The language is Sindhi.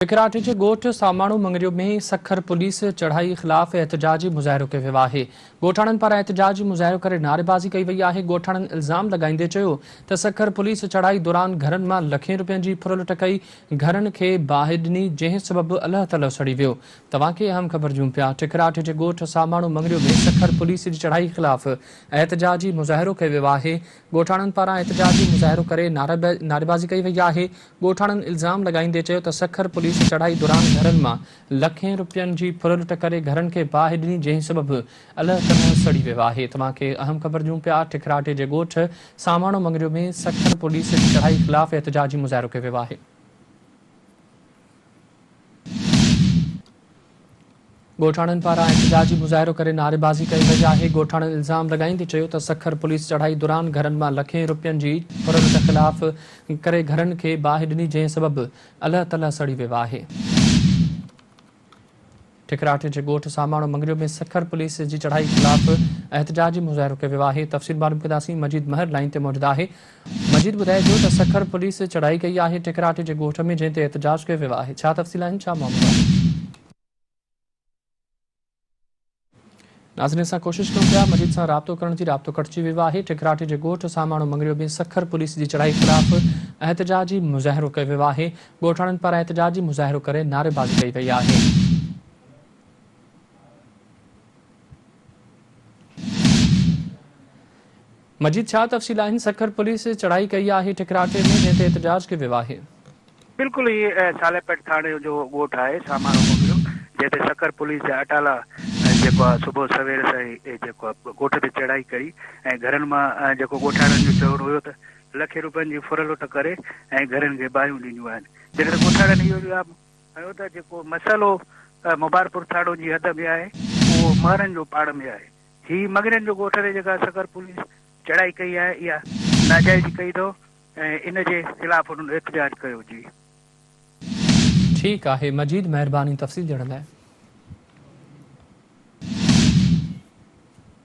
سکراٽ جي ڳوٺ ساماڻو مڱريو ۾ سکر پوليس چڙهائي خلاف احتجاجي مظاهرو ڪيو ويو آهي، ڳوٺاڻن پاران احتجاجي مظاهرو ڪري نعريبازي ڪئي وئي آهي، ڳوٺاڻن الزام لڳائيندي چيو ته سکر پوليس چڙهائي دوران گهرن مان لکين روپين جي ڦر لٽ ڪئي، گهرن کي باهه ڏني جنهن سبب الهه تلهه سڙي ويو. توهان کي اهم خبر ڏيون پيا ٺڪراٽ جي ڳوٺ ساماڻو مڱريو ۾ سکر پوليس جي چڙهائي خلاف احتجاجي مظاهرو ڪيو ويو آهي، ڳوٺاڻن پاران احتجاجي مظاهرو ڪري نعريبازي ڪئي وئي آهي، ڳوٺاڻن الزام لڳائيندي چيو ته سکر پوليس چڙهائي دوران گهرن مان لکين رپين جي ڦر لٽ ڪري گهرن کي باهه ڏني جنهن سبب الهه تنهه سڙي ويو آهي توهان کي اهم خبر ڏيون پيا ٺڪراٽي جي ڳوٺ ساماڻو مڱريو ۾ سکر پوليس جي چڙهائي خلاف احتجاجي مظاهرو ڪيو ويو آهي. ڳوٺاڻن پاران احتجاجي مظاهرو ڪري نعريبازي ڪئي وئي آهي، ڳوٺاڻن الزام لڳائيندي چيو ته سکر پوليس چڙهائي دوران گهرن مان لکين روپين جي ڦرلٽ خلاف ڪري گهرن کي باهه ڏني جنهن سبب الهه تلهه سڙي ويو آهي. ٺڪراٺي جي ڳوٺ ساماڻو مڱريو ۾ سکر پوليس جي چڙهائي خلاف احتجاجي مظاهرو ڪيو ويو آهي، تفصيل معلوم ڪنداسين مجيد مهر لائين تي موجود آهي. مجيد ٻڌائي ٿو ته سکر پوليس چڙهائي ڪئي آهي ٺڪراٽي جي ڳوٺ ۾ جنهن تي احتجاج ڪيو ويو آهي ڇا تفصيل آهن ڇا معاملو آهي. ناظرين اسان ڪوشش ڪيون پيا مجيد سان رابطو ڪرڻ جي رابطو ڪٽجي ويو آهي ٺڪراٽي جي ڳوٺ ساماڻو مڱريو ۾ سکر پوليس جي چڙهائي خلاف احتجاجي مظاهرو ڪيو ويو آهي ڳوٺاڻن پاران احتجاجي مظاهرو ڪري نعريبازي ڪئي وئي آهي مجيد ڇا تفصيل آهن سکر پوليس چڙهائي ڪئي آهي ٺڪراٽي ۾ جنهن تي احتجاج ڪيو ويو آهي. بلڪل هي صالح پيٽ ٿاڻي جو ڳوٺ آهي سامارو مغريو جنهن تي سکر پوليس جي اٽالا جيڪو آهي صبح سوير سان ئي جيڪو آهي ڳوٺ تي چڙهائي ڪئي ۽ گهرن مان جيڪو ڳوٺاڻن جو چوڻ هيو ته لکين روپين جي ڦر لٽ ڪري ۽ گهرين کي باهيون ڏنيون آهن جڏهن ته ڳوٺاڻن اهو جواب هنيو ته جيڪو مسئلو مبارڪپور ٿاڻو جي حد ۾ آهي اهو مهرن جو پاڙ ۾ آهي. هي مڱرين جو ڳوٺ تي جيڪا سکر پوليس چڙهائي ڪئي آهي اها ناجائزي ڪئي اٿو ۽ ان جي خلاف انهن احتجاج ڪيو جي. ٺيڪ آهي مجيد مهرباني تفصيل ڏيڻ لاء.